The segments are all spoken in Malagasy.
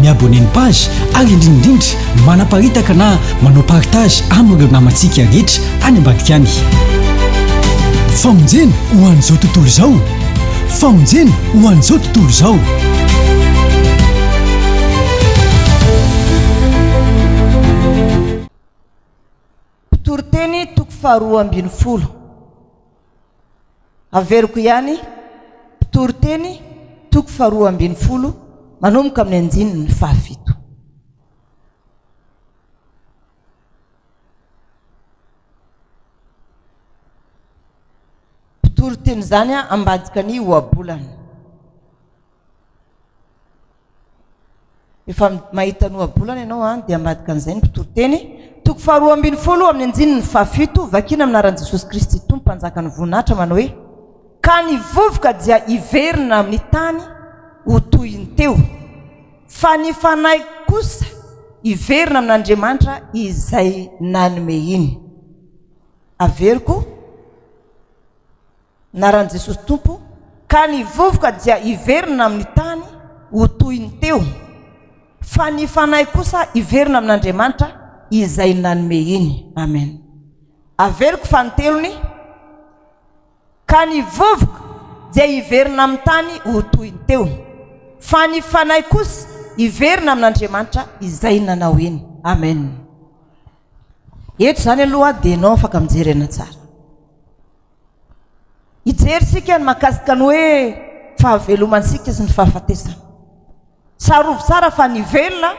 mi-abonner ny page ary indrindraindrindra manaparitaka na manao partage amin'ireo namantsika rehetra any ambadika any. Famonjena ho an'izao tontolo izao Famonjena ho an'izao tontolo izao. Toriteny toko faharoa ambin'ny folo. Averiko ihany, mpitory teny, toko faharoa ambin'ny folo, manomboka amin'ny andininy fahafito. Mpitory teny izany ambadika ny ohabolana. Rehefa mahita ny ohabolana ianao an, dia ambadika an'izay ny mpitoriteny. Toko faharoa ambin'ny folo amin'ny andininy fahafito, Vakina amin'ny anaran'i Jesosy Kristy Tompo Mpanjaka ny voninahitra manao hoe, Ka ny vovoka dia hiverina amin'ny tany ho toy ny teo, fa ny fanahiko kosa hiverina amin'Andriamanitra izay nanome iny. Averiko. Anaran'i Jesosy Tompo, ka ny vovoka dia hiverina amin'ny tany ho toy ny teo, fa ny fanahy kosa hiverina amin'Andriamanitra izay nanome iny. Amen. Averiko fanintelony, Ka ny vovoka dia hiverina amin'ny tany ho toy ny teo, fa ny fanahy kosa hiverina amin'Andriamanitra izay nanao iny. Amen. Eto izany aloha dia ianao afaka mijery aina tsara. Hijery isika ny mahakasika ny hoe fahavelomantsika sy ny fahafatesana. Tsarovy tsara fa ny velona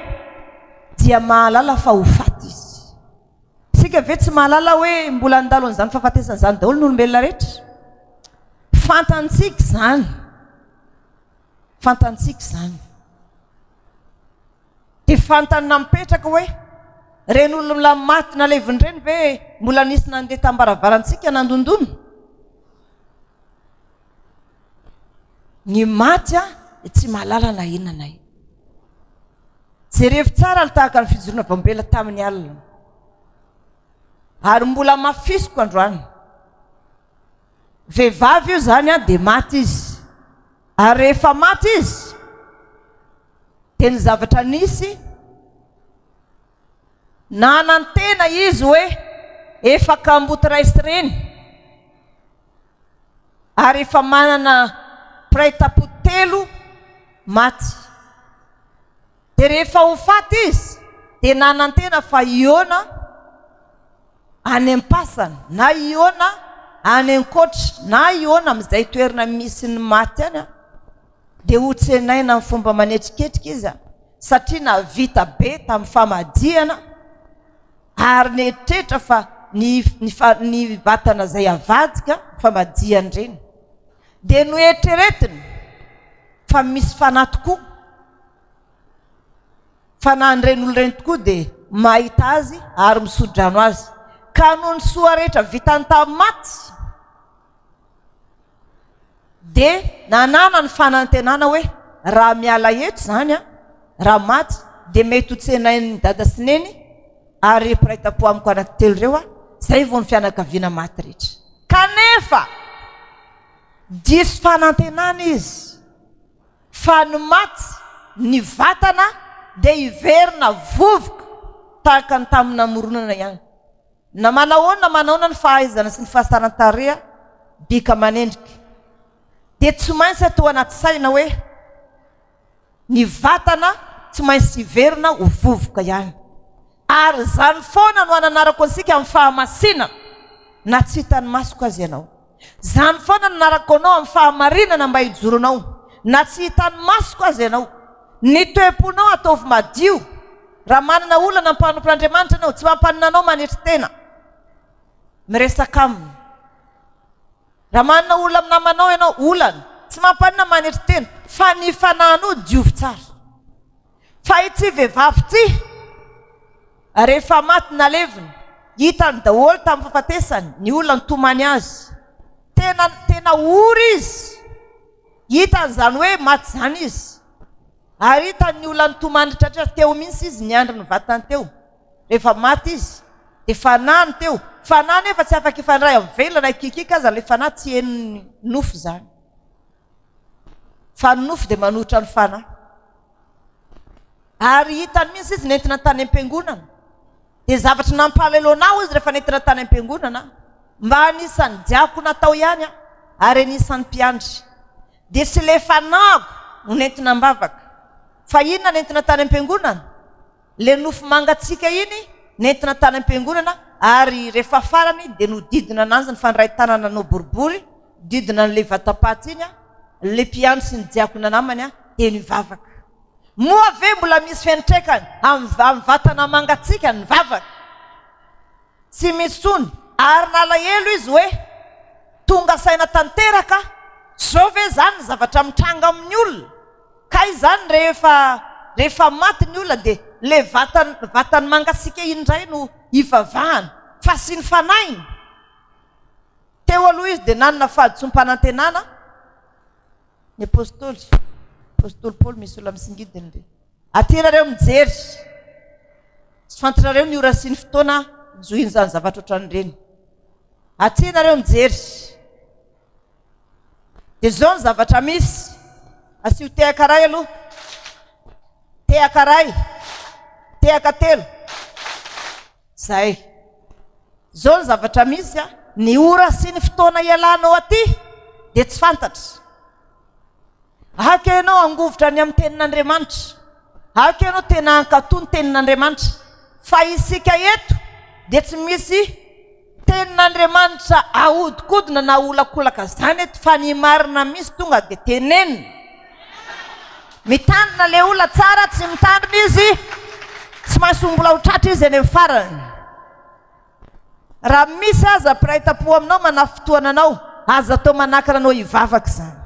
dia mahalala fa ho faty izy. Isika ve tsy mahalala hoe mbola handalo an'izany fahafatesana izany daholo ny olombelona rehetra? Fantantsika izany. Fantantsika izany. Tsy fantany na mipetraka hoe ireny olona maty naleviny ireny ve mbola nisy nandeha tam-baravarantsika nandondona? Ny maty an, dia tsy mahalala na inona na inona. Jerevo tsara alo tahaka ny fijoroana vao mibela tamin'ny alina. Ary mbola hamafisiko androany. Vehivavy io izany an, dia maty izy. Ary rehefa maty izy, Dia ny zavatra nisy, nanantena izy hoe efa kamboty ray sy reny, ary efa manana mpiray tampo telo maty. Dia rehefa ho faty izy, dia nanantena fa hihaona any am-pasana, na hihaona any an-koatra, na hihaona amin'izay toerana misy ny maty any. dia ho tsenaina amin'ny fomba manetriketrika iza satria nahavita be tamin'ny famadihana ary nieritreritra fa ny ny fa ny vatana izay avadika famadihany ireny dia noeritreretiny fa misy fanahy tokoa fanahy ireny olo ireny tokoa dia mahita azy ary misodrano azy ka noho ny soa rehetra vitany tamin'ny maty dia nanana ny fanantenana hoe raha miala eto izany aho, raha maty, dia mety ho tsenain'i Dada sy Neny ary mpiray tampo amiko anankitelo ireo aho, izay vao ny fianakaviana maty rehetra. Kanefa, diso fanantenana izy fa ny maty, ny vatana dia hiverina vovoka tahaka ny tamin'ny namoronana ihany. Na manahoana na manahoana ny fahaizana sy ny fahasaran-tareha bika aman'endrika dia tsy maintsy atao anaty saina hoe ny vatana tsy maintsy hiverina ho vovoka ihany. Ary izany foana no hananarako antsika amin'ny fahamasinan na tsy hitan'ny masoko aza ianao. Izany foana no nanarako anao amin'ny fahamarinana mba hijoro anao, na tsy hitan'ny masoko aza ianao. Ny toe-ponao ataovy madio. Raha manana olana mpanompo Andriamanitra ianao, tsy mampanina anao manetry tena miresaka aminy. Raha manana olona amin'ny namanao ianao, olana, tsy mampanina manetry tena, fa ny fanahinao diovy tsara. Fa ity vehivavy ity, Ary rehefa maty nalevina, hitany daholo tamin'ny fahafatesany ny olona nitomany azy. Tena, tena ory izy. Hitany izany hoe maty izany izy. Ary hitany ny olona nitomany tratran'ny teo mihitsy izy niandry ny vatany teo. Rehefa maty izy, dia fanahy no teo. Fanahy nefa tsy afaka hifandray amin'ny velona na hikiakiaka aza ilay fanahy, tsy henon'ny nofo izany. Fa ny nofo dia manohitra ny fanahy. Ary hitany mihitsy izy nentina tany am-piangonana. Dia zavatra nampahaleloana ahy hoy izy rehefa nentina tany am-piangonana aho. Mba anisan'ny diakona tao ihany aho ary anisan'ny mpiandry. Dia tsy ilay fanahiko no nentina am-bavaka. Fa inona nentina tany am-piangonana? le nofo mangatsiaka iny nentina tany am-piangonana ary rehefa farany dia nodidina ananjy ny fandray tanana nanao boribory didina an'le vatam-paty iny le mpiandry sy ny diakona namany teny hivavaka. Moa ve mbola misy fiantraikany amin'ny vatana mangatsiaka ny vavaka? Tsy misy tsony ary nalahelo izy hoe tonga saina tanteraka aho, zao ve zany ny zavatra mitranga amin'ny olona? Ka izany rehefa rehefa maty ny olona dia ilay vatan vatany mangatsiaka iny indray no hivavahana fa asiany fanahiny? Teo aloha izy dia nanana fahadisoam-panantenana ny apostoly apostoly Paoly misy olona misingidiny dia aty iarareo mijery tsy fantatrareo ny ora sy ny fotoana hizohian'izany zavatra ohatran'ireny aty ianareo mijery Dia izao ny zavatra misy, asio tehaka iray aloha, tehaka iray, tehaka telo, izay. Izao ny zavatra misy a, ny ora sy ny fotoana ialanao aty dia tsy fantatra. Aka ianao hangovitra ny amin'ny tenin'Andriamanitra. Aka ianao tena hankatò ny tenin'Andriamanitra. Fa isika eto dia tsy misy Tenin'Andriamanitra ahodikodina na aholakolaka zany eto fa ny marina misy tonga de tenenina. Mitandrina le olona tsara tsy mitandrina izy tsy maintsy ho mbola ho tratra izy eny amin'ny farany. Raha misy aza mpiray tampo aminao manafintohana anao aza atao manakana anao hivavaka izany.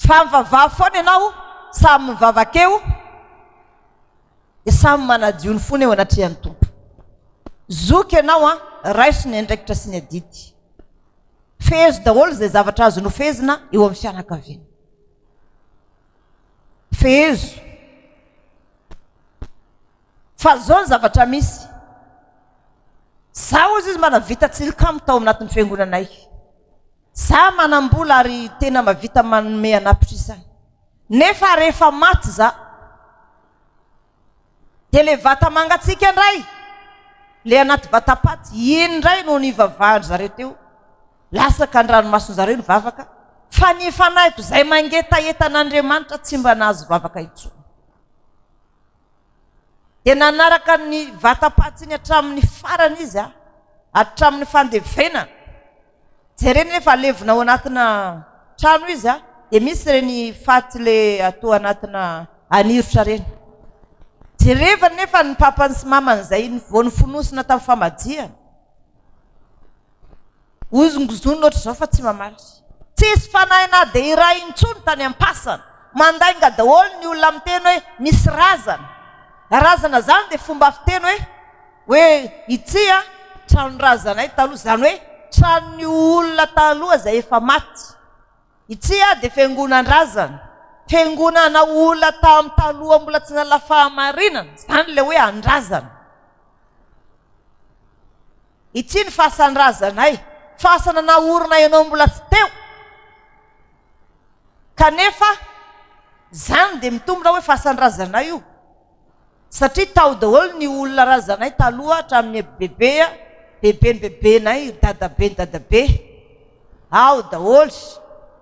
Fa mivavaha foana ianao samy mivavaka eo. dia samy manadio ny fony eo anatrehan'ny Tompo. Zoky ianao an, raiso ny andraikitra sy ny adidy. Fehezo daholo izay zavatra azo nofehezina eo amin'ny fianakaviana. Fehezo. Fa izao ny zavatra misy. Zaho izy mba navita tsilikamo tao anatin'ny fiangonanay. Za manam-bola ary tena mavita manome an'apitrisany. Nefa rehefa maty za. Dia le vata mangatsiaka ndray, le anaty vatapaty, iny ndray no nivavahan-dry zareo teo. Latsaka an-dranomason-jareo ny vavaka, fa ny fanahiko izay mangetaheta an'Andriamanitra tsy mba nahazo vavaka intsony. Dia nanaraka ny vatapaty iny hatramin'ny farany izy, hatramin'ny fandevenana. Jerena hoe efa levona ao anatina trano izy a, dia misy ireny faty le atao anatina anirotra ireny. Jerevany nefa ny papany sy mamany izay vao nifonosina tamin'ny famadihana. Hozongozony ohatr'izao fa tsy mamaly. Tsisy fanahy na dia iray intsony tany am-pasana. Mandainga daholo ny olona miteny hoe misy razana. Razana izany dia fomba fiteny hoe. Hoe ity an, tranon-drazanay taloha, izany hoe tranon'ny olona taloha izay efa maty. Ity an dia fiangonan-drazana, fiangonana olona tamin'ny taloha mbola tsy nanana fahamarinana, izany ilay hoe an-drazana. Ity ny fasan-drazanay, fasana naorina ianao mbola tsy teo. Kanefa izany dia mitombina hoe fasan-drazanay io. satria tao daholo ny olona razanay taloha hatramin'ny bebe a, beben'ny bebenay, dadaben'ny dadabe, ao daholo,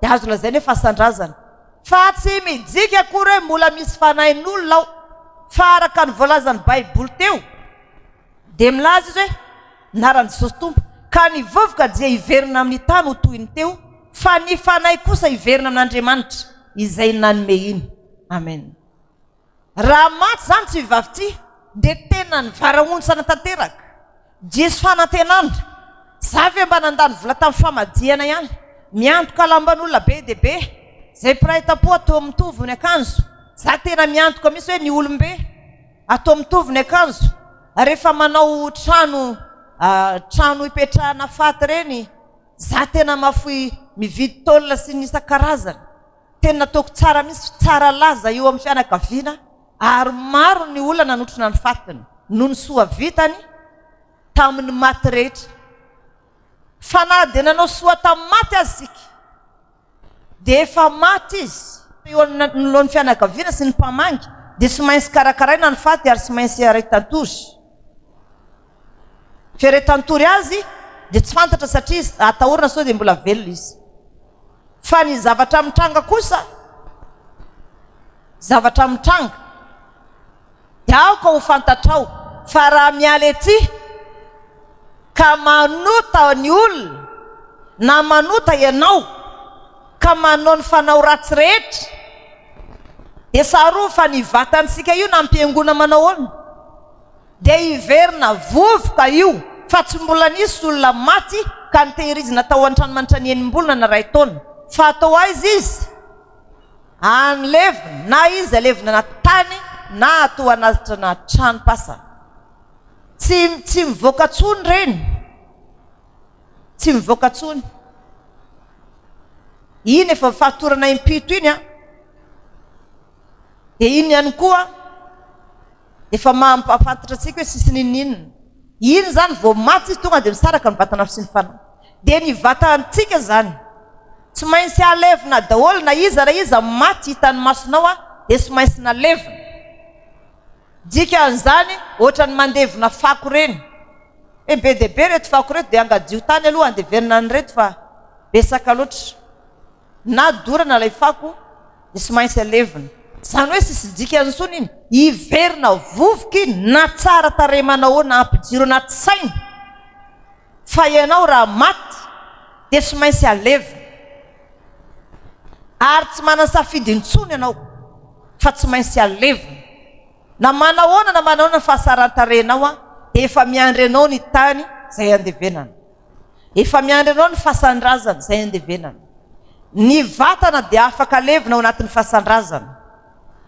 dia azo lazaina hoe fasan-drazana. Fa tsy mijika akory hoe mbola misy fanahin'olona ao, fa araka ny voalazan'ny Baiboly teo, dia milaza izy hoe, Ny anaran'i Jesosy Tompo, ka ny vovoka dia hiverina amin'ny tany ho toy ny teo, fa ny fanahy kosa hiverina amin'Andriamanitra, izay nanome iny. Amen. Raha maty izany tsy vavy ity dia tena nivarahontsana tanteraka. Diso fanantenana. Za ve mba nandany vola tamin'ny famadihana ihany. Miantoka lamban'olona be dia be. Izay mpiray tampoha toa mitovy ny akanjo. Za tena miantoka mihitsy hoe ny olom-be atao mitovy ny akanjo rehefa manao trano trano ipetrahana faty ireny. Za tena mahafoy mividy tôle sy ny isan-karazany. Teny nataoko tsara mihintsy fa tsara laza eo amin'ny fianakaviana ary maro ny olona nanotrona ny fatiny noho ny soa vitany tamin'ny maty rehetra. Fa na dia nanao soa tamin'ny maty aza isika dia efa maty izy eo anoloan'ny fianakaviana sy ny mpamangy dia tsy maintsy karakaraina ny faty ary tsy maintsy iharay tantory. Fieretan-tory azy dia tsy fantatra satria atahorana sao dia mbola velona izy. Fa ny zavatra mitranga kosa, zavatra mitranga, dia aoka ho fantatrao fa raha miala ety ka manota ny olona na manota ianao ka manao ny fanao ratsy rehetra dia tsarovy fa ny vatantsika io nampihaingoana manao ahoana? Dia hiverina vovoka io fa tsy mbola nisy olona maty ka nitehirizina tao an-trano mandritra ny enim-bolana na iray taona. Fa atao aiza izy? Any levona, na izy alevina anaty tany na atao anatitra na tranom-pasana. Tsy, tsy mivoaka tsony ireny. Tsy mivoaka tsony. Iny efa fahatorana impito iny an! Dia iny ihany koa. efa maha mpahafantatra antsika hoe sisy n'inon'inona. Iny izany vao maty izy tonga dia misaraka ny vatana fo sy ny fanahy. Dia ny vatantsika izany tsy maintsy alevina daholo na iza na iza maty hitan'ny masonao dia tsy maintsy nalevina. Dikan'izany ohatran'ny mandevona fako ireny hoe be dia be ireto fako ireto dia angadio tany aloha andevenina an'ireto fa betsaka loatra. na dorana ilay fako dia tsy maintsy alevina. Izany hoe tsisy dikany intsony iny. Hiverina vovoka iny na tsara tarehy manao na ampijoro anaty saina fa ianao raha maty dia tsy maintsy alevina. Ary tsy manan-tsafidy intsony ianao fa tsy maintsy alevina. Na manahoana na manahoana ny fahasaran-tarehinao dia efa miandry anao ny tany izay andevenana. Efa miandry anao ny fasan-drazana izay andevenana. Ny vatana dia afaka alevina ao anatin'ny fasan-drazana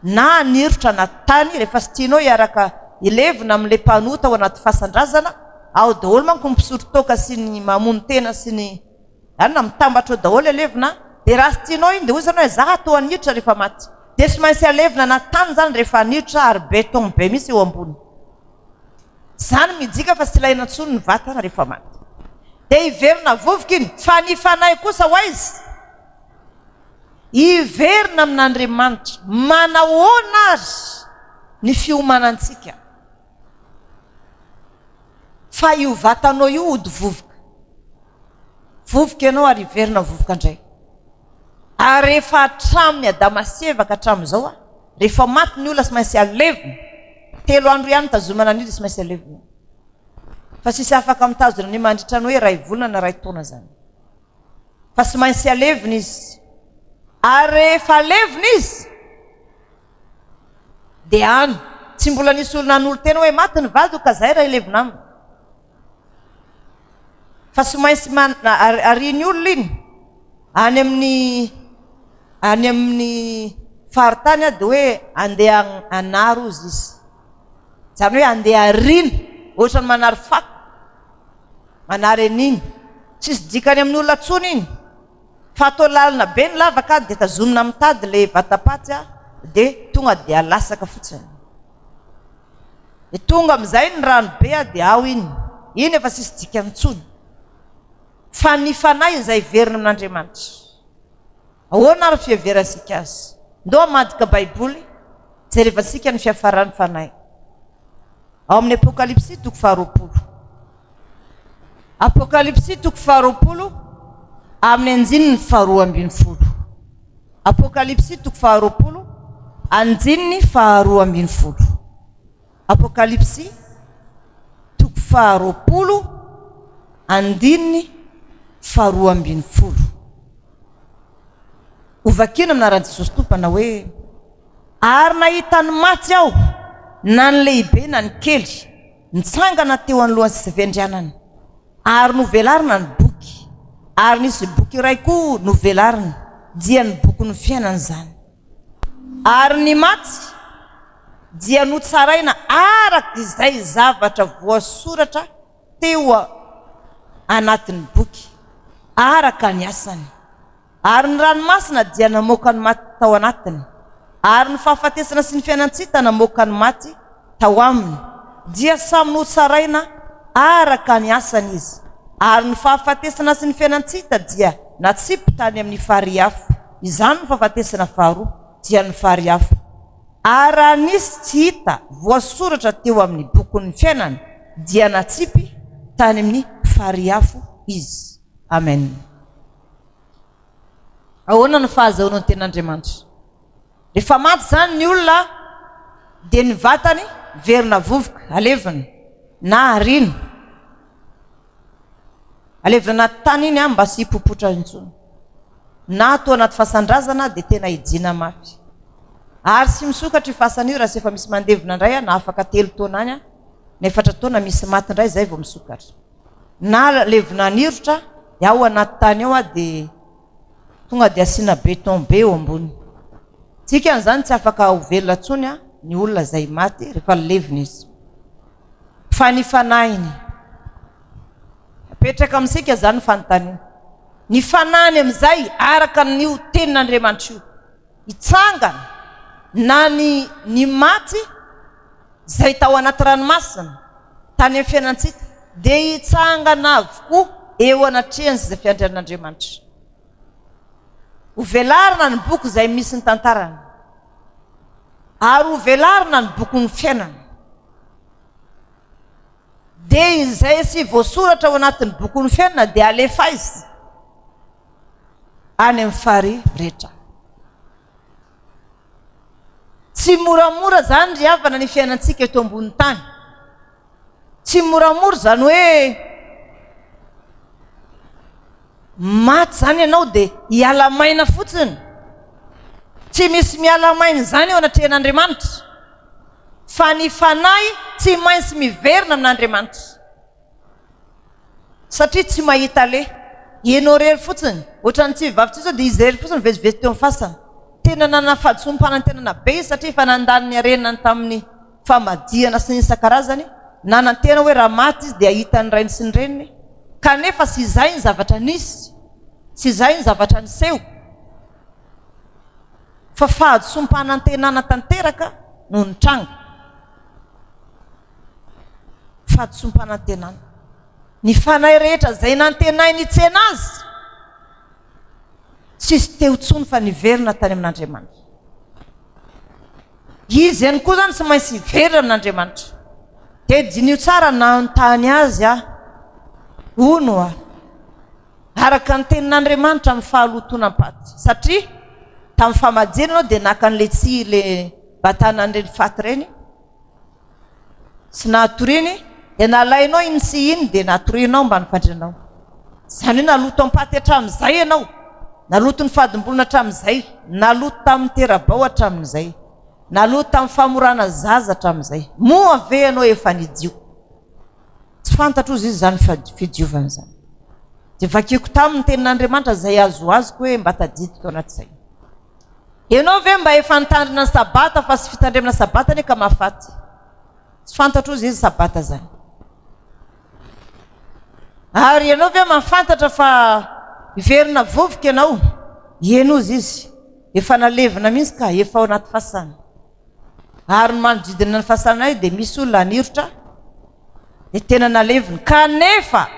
na anirotra anaty tany rehefa tsy tianao hiaraka hilevina amin'ilay mpanota ao anaty fasan-drazana, ao daholo manko ny mpisotro toaka sy ny mamono tena sy ny zany na mitambatra ao daholo alevina dia raha tsy tianao iny dia hoy zany hoe za atoa anirotra rehefa maty dia tsy maintsy alevina anaty tany zany rehefa anirotra ary beton be mihitsy eo ambony. Zany mijika fa tsy ilaina intsony ny vatana rehefa maty. Dia hiverina vovoka iny. Fa ny fanahy kosa ho aiza? Hiverina amin'Andriamanitra. Manahoana ary ny fiomanantsika? Fa io vatanao io hody vovoka. Vovoka ianao ary hiverina vovoka indray. Ary rehefa hatramin'ny Adama sy Eva ka hatramin'izao a. Rehefa maty ny olona tsy maintsy alevina. Telo andro ihany nitazomana an'io dia tsy maintsy alevina. Fa tsisy afaka mitazona an'io mandritra ny hoe iray volana na iray taona izany. Fa tsy maintsy alevina izy. Ary rehefa alevina izy, dia any. Tsy mbola nisy olona hanolo-tena hoe maty ny vadiko ka izay raha hilevina aminy. fa tsy maintsy man arian'ny olona iny any amin'ny any amin'ny faritany a de hoe andeha anaro ozy izy zany hoe andeha ariana ohatrany manary fako manary an'iny tsisy dikany amin'ny olona tsony iny fa atao lalina be ny lavaka de tazonina mitady le vatapaty a de tonga de alasaka fotsiny Dia tonga amin'izay ny rano be dia ao iny. Iny efa tsisy dikany intsony. Fa ny fanahy izay heverina amin'Andriamanitra. Ahoana ary fiheverantsika azy? Ndao hamadika Baiboly, jerevantsika ny fiafaran'ny fanahy. Ao amin'ny Apokalypsy toko faharoapolo. Apokalypsy toko faharoapolo amin'ny andininy faharoa ambin'ny folo. Apokalypsy toko faharoapolo andininy faharoa ambin'ny folo. Apokalypsy toko faharoapolo andininy faharoa ambin'ny folo. Hovakina amin'ny anaran'i Jesosy Tompo manao hoe ary nahita ny maty aho na ny lehibe na ny kely Nitsangana teo anoloan'i Sevendrianana ary novelarina ny boky, ary nisy boky iray koa novelarina, dia ny bokin'ny fiainana izany. Ary ny maty dia notsaraina araka izay zavatra voasoratra teo anatin'ny boky, araka ny asany. Ary ny ranomasina dia namoaka ny maty tao anatiny, ary ny fahafatesana sy ny fiainan-tsita namoaka ny maty tao aminy, dia samy notsaraina araka ny asany izy, ary ny fahafatesana sy ny fiainan-tsita dia natsipy tany amin'ny farihy afo, izany no fahafatesana faharoa, dia ny farihy afo. Ary raha nisy tsy hita voasoratra teo amin'ny bokin'ny fiainana, dia natsipy tany amin'ny farihy afo izy. Amena. Ahoana no fahazahoana ny tenin'Andriamanitra? Rehefa maty izany ny olona dia ny vatany verina vovoka, alevina na ariana. Alevina anaty tany iny mba tsy hipopotra intsony. Na atao anaty fasan-drazana dia tena hijiana mafy. Ary tsy misokatra io fasana io raha tsy efa misy mandevina indray na afaka telo taona any, na efatra taona misy maty indray izay vao misokatra. na levona anirotra dia ao anaty tany ao ah dia tonga dia asiana beton be eo ambony dikany izany tsy afaka ho velona tsony ah ny olona izay maty rehefa levona izy fa ny fanahiny apetraka amintsika izany fanontaniana ny fanahiny amin'izay araka n'io tenin'Andriamanitra io hitsangana na ny ny maty izay tao anaty ranomasina tany amin'ny fiainantsika dia hitsangana avokoa eo anatrehan'izay fiandrian'Andriamanitra. Hovelarina ny boky izay misy ny tantarany ary hovelarina ny bokin'ny fiainana. Dia izay sy voasoratra ao anatin'ny bokin'ny fiainana dia alefaizy any amin'ny farihy rehetra. Tsy moramora izany ry havana ny fiainantsika eto ambony tany. Tsy moramora izany hoe maty izany ianao dia hiala maina fotsiny. Tsy misy miala maina izany eo anatrehan'Andriamanitra. Fa ny fanahy tsy maintsy miverina amin'Andriamanitra. Satria tsy mahita le. Ianao irery fotsiny. Ohatran'ny tsy vehivavy intsony sao dia izy irery fotsiny no vezivezy teo amin'ny fasana. Tena nanana fahadisoam-panantenana be izy satria efa nandany ny harenany tamin'ny famadihana sy ny isan-karazany. Nanantena hoe raha maty izy dia hahita ny rainy sy ny reniny. Kanefa tsy izay ny zavatra nisy. Tsy izay ny zavatra niseho. Fa fahadisoam-panantenana tanteraka no nitranga. Fahadisoam-panantenana. Ny fanahy rehetra izay nantenainy hitsena Azy, tsisy teo intsony fa niverina tany amin'Andriamanitra. Izy ihany koa izany tsy maintsy hiverina amin'Andriamanitra. Dia diniho tsara nanontany Azy aho. Hono aho, araka ny tenin'Andriamanitra amin'ny fahalotoanam-paty. Satria tamin'ny famajiana ianao dia naka an'ilay tsihy, ilay batana an'ireny faty ireny. Tsy natoriany dia nalainao iny sy iny dia natorianao mba nifandrinanao. Izany hoe naloto am-paty hatramin'izay ianao, naloto ny fadim-bolona hatramin'izay, naloto tamin'ny tera-bao hatramin'izay, naloto tamin'ny famorana zaza hatramin'izay. Moa ve ianao efa nidio? Tsy fantatro hozy izy izany fidiovana izany. Dia vakiko taminy ny tenin'Andriamanitra izay azoazoko hoe mba tadidiko tao anaty saina. Ianao ve mba efa nitandrina ny sabata fa tsy fitandremana sabata anie ka mahafaty. Tsy fantatro ozy izy sabata zany. Ary ianao ve mahafantatra fa hiverina vovoka ianao? Ieny ozy izy. Efa nalevina mihitsy ka efa ao anaty fasana. ary ny manodidina ny fasanay dia misy olona anirotra dia tena naleviny kanefa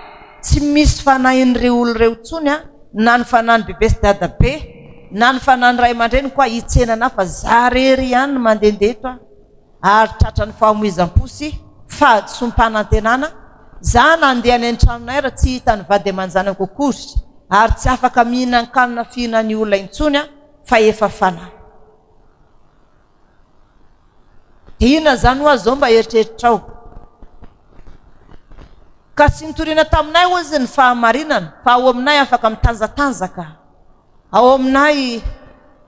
tsy misy fanahin'ireo olona ireo intsony an na ny fanahin'ny bebe sy dadabe na ny fanahin'ny ray aman-dreniko aho hitsena anah fa za rery ihany ny mandehandeha eto aho ary tratran'ny fahamoizam-po sy fahadisoam-panantenana za nandeha any an-tranonay raha tsy hita ny vady aman-janako akory ary tsy afaka mihinan-kanina fihinan'ny olona intsony aho fa efa fanahy Inona izany hoa izao mba eritreritrao? Ka tsy nitoriana taminay hoa izy ny fahamarinana, fa ao aminay afaka mitanzatanzaka, ao aminay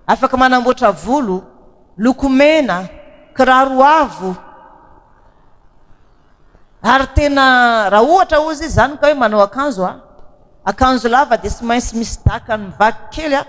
afaka manamboatra volo, lokomena, kiraro avo, Ary tena raha ohatra hozy izy zany ka hoe manao akanjo a akanjo lava dia tsy maintsy misy daka ny vaky kely a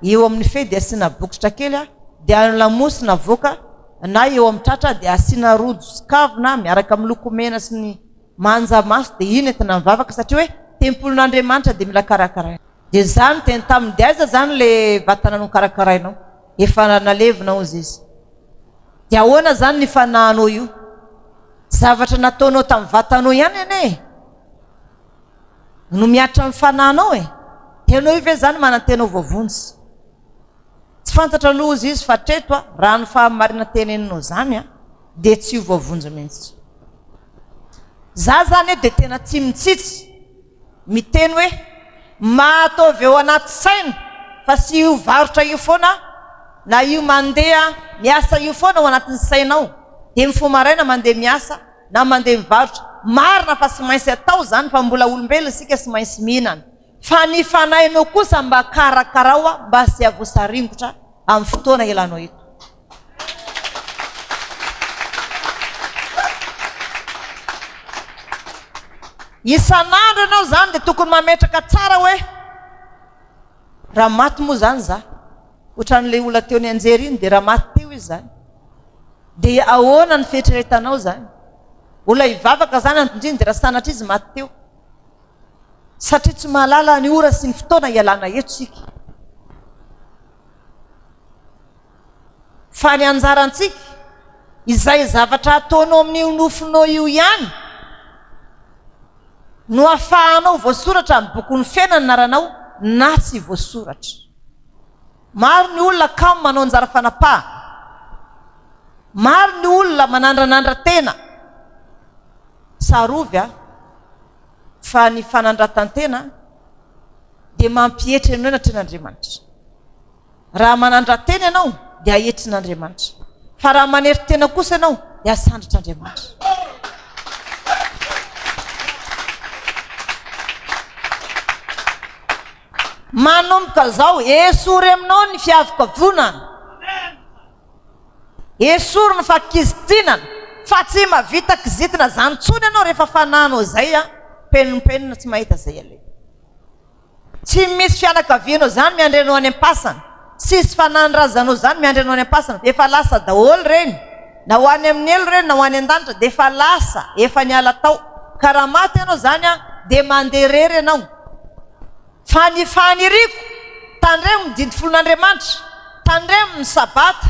eo amin'ny fehy dia asiana bokotra kely a dia ny lamosina avoaka na eo amin'ny tratra dia asiana rojo sy kavina miaraka amin'ny lokomena sy ny manja maso dia iny entina mivavaka satria hoe tempolin'Andriamanitra dia mila karakaraina. Dia za niteny taminy, dia aiza zany le vatana nokarakarainao? Efa nalevina hozy izy. Dia ahoana zany ny fanahinao io? Zavatra nataonao tamin'ny vatanao ihany anie e! No mihatra amin'ny fanahinao e! Dia ianao io ve zany manantena ho voavonjy? Tsy fantatra aloha hozy izy fa hatreto a, raha ny fahamarina teneninao zany a, dia tsy ho voavonjy mihitsy. Za zany e dia tena tsy mitsitsy. Miteny hoe, Mahataovy ao anaty saina fa tsy io varotra io foana na io mandeha miasa io foana ao anatin'ny sainao, dia mifoha maraina mandeha miasa na mandeha mivarotra, marina fa tsy maintsy atao izany fa mbola olombelona isika tsy maintsy mihinana, fa ny fanahinao kosa mba karakaraoa mba tsy havosaringotra amin'ny fotoana ialanao eto. Isan'andro ianao izany dia tokony mametraka tsara hoe raha maty moa izany za, ohatran'ilay olona teo nianjera iny dia raha maty teo izy izany, dia ahoana ny fieritreretanao izany? Olona hivavaka izany anton-driny dia raha sanatria izy maty teo. Satria tsy mahalala ny ora sy ny fotoana ialana eto isika. Fa ny anjarantsika, izay zavatra ataonao amin'io nofinao io ihany no ahafahanao voasoratra amin'ny bokin'ny fiainana ny anaranao na tsy voasoratra. Maro ny olona kamo manao anjara fanapahana. Maro ny olona manandranandra tena. Tsarovy a, fa ny fanandratan-tena dia mampietry anao ny atrehan'Andriamanitra. Raha manandra-tena ianao dia ahetrin'Andriamanitra, fa raha manery tena kosa ianao dia asandratr'Andriamanitra. Manomboka izao, esory aminao ny fiavokavonana. Esory ny fakizitinana, fa tsy mavita kizitina izany intsony ianao rehefa fananao izay a, penimpenina tsy mahita izay aleha. Tsy misy fianakavianao zany miandry anao any ampasana, tsisy fanahin razanao zany miandry anao any ampasana, efa lasa daholo reny, na ho any amin'ny helo reny na ho any andanitra dia efa lasa, efa niala tao, ka raha maty ianao zany an dia mandeha rery ianao, fa ny faniriako, tandremo ny didy folon' Andriamanitra, tandremo ny sabata,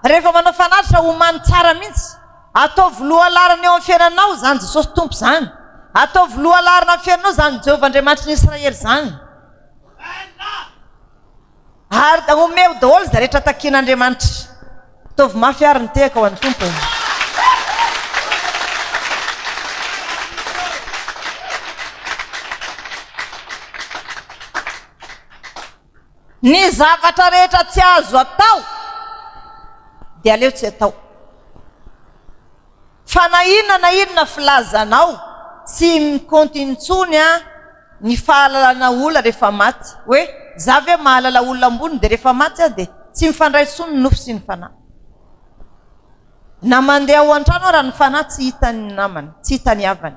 rehefa manao fanatitra homany tsara mihitsy, Ataovy lohalaharana eo amin'ny fiainanao izany Jesosy Tompo izany. Ataovy lohalaharana amin'ny fiainanao izany Jehovah Andriamanitry ny Israely izany. Ary omeo daholo izay rehetra takian'Andriamanitra. Ataovy mafy ary ny tehaka ho an'ny Tompo. Ny zavatra rehetra tsy azo atao dia aleo tsy atao. Fa na inona na inona filazanao tsy mikaonty intsony an ny fahalalana olona rehefa maty. Hoe za ve mahalala olona ambony dia rehefa maty aho dia tsy mifandray intsony ny nofo sy ny fanahy. Na mandeha ao an-trano ara ny fanahy tsy hitan'ny namany, tsy hitan'ny havany.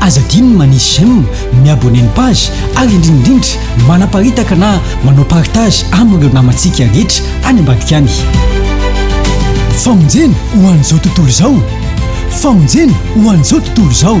Aza adino ny manisy j'aime, mi-abonner ny page ary indrindraindrindra manaparitaka na manao partage amin'ireo namantsika rehetra any ambadika any. Famonjena ho an'izao tontolo izao! Famonjena ho an'izao tontolo izao!